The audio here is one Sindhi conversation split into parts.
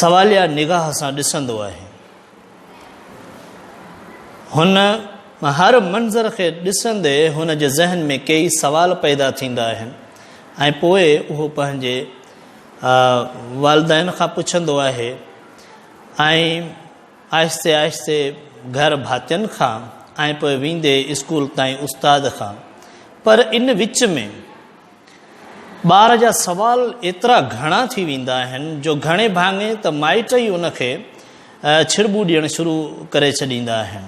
سواليه نگاهه سان ڏسندو آهي. هن هر منظر کي ڏسندي هن جي ذهن ۾ ڪيئي سوال پيدا ٿيندا آهن ۽ پوء اهو پنهنجي والدين کان پڇندو آهي ۽ آهستي آهستي گهر ڀاتين کان ۽ پوء ويندي اسڪول تائين استاد کان پر ان وچ ۾ ٻار جا سوال ايترا گهڻا ٿي ويندا آهن جو گهڻي ڀاڱي ته مائٽ ئي ان کي ڇرٻو ڏيڻ شروع ڪري ڇڏيندا آهن.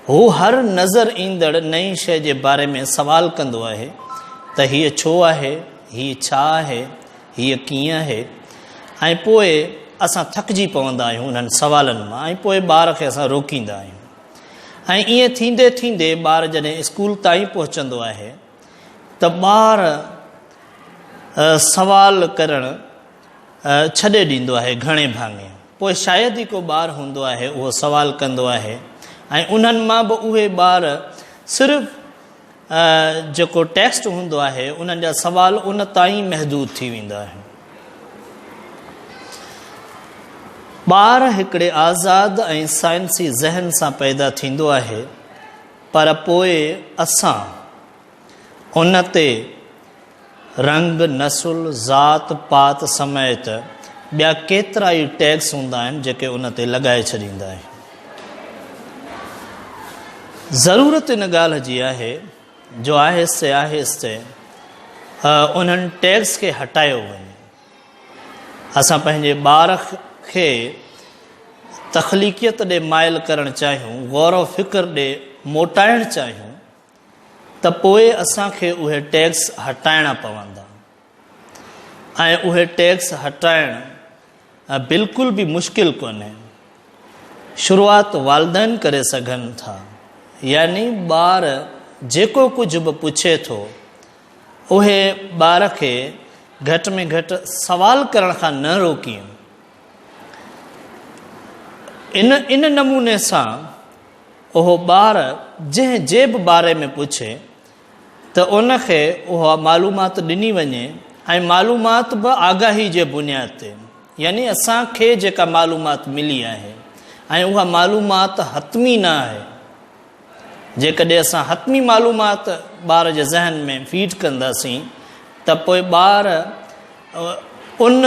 هو هر نظر ايندڙ نئين شيء جي باري ۾ سوال ڪندو آهي ته هيء ڇو آهي؟ هيء ڇا آهي؟ هيء ڪيئن آهي؟ ۽ پوء اسان ٿڪجي پوندا آهيون انهن سوالن مان ۽ پوء ٻار کي اسان روڪيندا آهيون ۽ ائين ٿيندي ٿيندي ٻار جڏهن اسڪول تائين پهچندو آهي ته ٻار سوال ڪرڻ ڇڏي ڏيندو آهي گهڻي ڀاڱي پوء شايد ئي ڪو ٻار هوندو آهي اهو سوال ڪندو آهي ۽ انهن مان به اهي ٻار صرف جيڪو ٽيسٽ هوندو آهي انهن جا سوال ان تائين محدود ٿي ويندا آهن ٻار هڪڙي آزاد ۽ سائنسي ذهن سان پيدا ٿيندو آهي پر پوء اسان ان تي رنگ، نسل، ذات پات سميت ٻيا ڪيترا ئي ٽيگس هوندا آهن جيڪي ان تي لڳائي ڇڏيندا آهيون. ضرورت ان ڳالهه جي آهي جو آهستي آهستي انهن ٽيگس کي هٽايو وڃي. اسان پنهنجي ٻار کي تخليقيت ڏي مائل ڪرڻ چاهيون، غور و فڪر ڏي موٽائڻ چاهيون ته پوء اسان کي اهي ٽيڪس هٽائڻا پوندا ۽ اهي ٽيڪس هٽائڻ بلڪل به مشڪل ڪونهي. شروعات والدين ڪري سگهن ٿا يعني ٻار جيڪو ڪجهه به پڇي ٿو اهي ٻار کي گهٽ ۾ گهٽ سوال ڪرڻ کان نه روڪين. ان ان نموني سان اهو ٻار جنهن جي به باري ۾ پڇي ته ان کي اها معلومات ڏني وڃي ۽ معلومات به آگاهي جي بنياد تي يعني اسان کي جيڪا معلومات ملي آهي ۽ اها معلومات حتمي نه آهي جيڪڏهن اسان حتمي معلومات ٻار جي ذهن ۾ فيڊ ڪنداسين ته پوء ٻار ان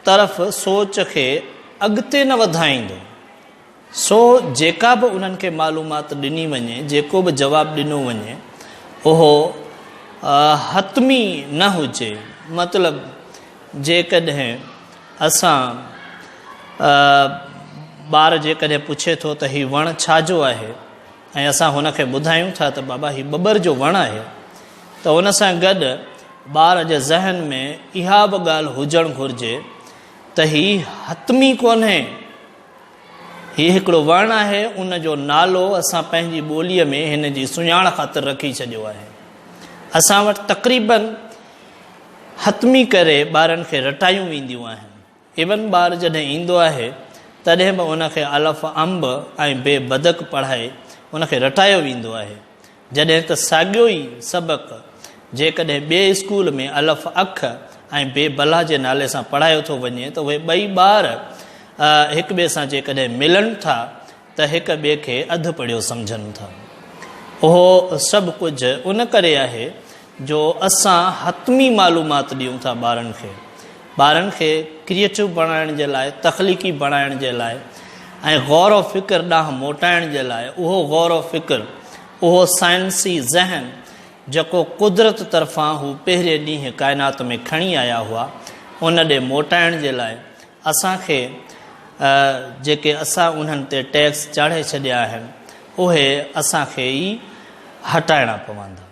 طرف سوچ کي اڳتي نه وڌائيندو. سو جيڪا به انهن کي معلومات ڏني وڃي، جيڪو به جواب ڏنو وڃي اهو حتمي نه هجي. مطلب جيڪڏهن اسان ٻار جيڪڏهن پڇي ٿو ته هي وڻ ڇا جو آهي ۽ اسان هن کي ٻڌايون ٿا ته بابا هي ٻٻر جو وڻ آهي ته ان سان گڏ ٻار جي ذهن ۾ اها به ڳالهه هجڻ گهرجي ته هي حتمي ڪونهي هي هڪڙو وڻ آهي ان جو نالو اسان پنهنجي ٻوليء ۾ هن جي سڃاڻ خاطر رکي ڇڏيو آهي اسان وٽ تقريبن حتمي ڪري ٻارن کي رٽايون وينديون آهن. ايون ٻار جڏهن ايندو آهي تڏهن به ان کي الف امب ۽ بي بدڪ پڙهائي ان کي رٽايو ويندو آهي. جڏهن ته ساڳيو ئي سبق جيڪڏهن ٻئي اسڪول ۾ الف اک ۽ بي بلا جي نالي سان پڙهايو ٿو وڃي ته اهي ٻئي ٻار هڪٻئي سان جيڪڏهن ملن ٿا ته هڪ ٻئي کي اڌ پڙهيو سمجهن ٿا. اهو سڀ ڪجهه ان ڪري آهي جو اسان حتمي معلومات ڏيون ٿا ٻارن کي. ٻارن کي ڪريئيٽو بڻائڻ جي لاء، تخليقي بڻائڻ جي لاء ۽ غور و فڪر ڏانهن موٽائڻ جي لاء اهو غور و فڪر، اهو سائنسي ذهن جيڪو قدرت طرفان هو پهرين ڏينهن ڪائنات ۾ کڻي آيا هئا، ان ڏي موٽائڻ جي لاء اسان کي جيڪي اسان انهن تي ٽيڪس چاڙهي ڇڏيا آهن اهي اسان کي ئي هٽائڻا پوندا.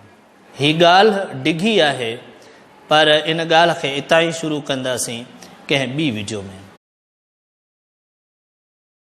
هي ڳالهه ڊگهي آهي پر ان ڳالهه کي اتان ئي شروع ڪنداسين ڪنهن ٻي وڊيو ۾.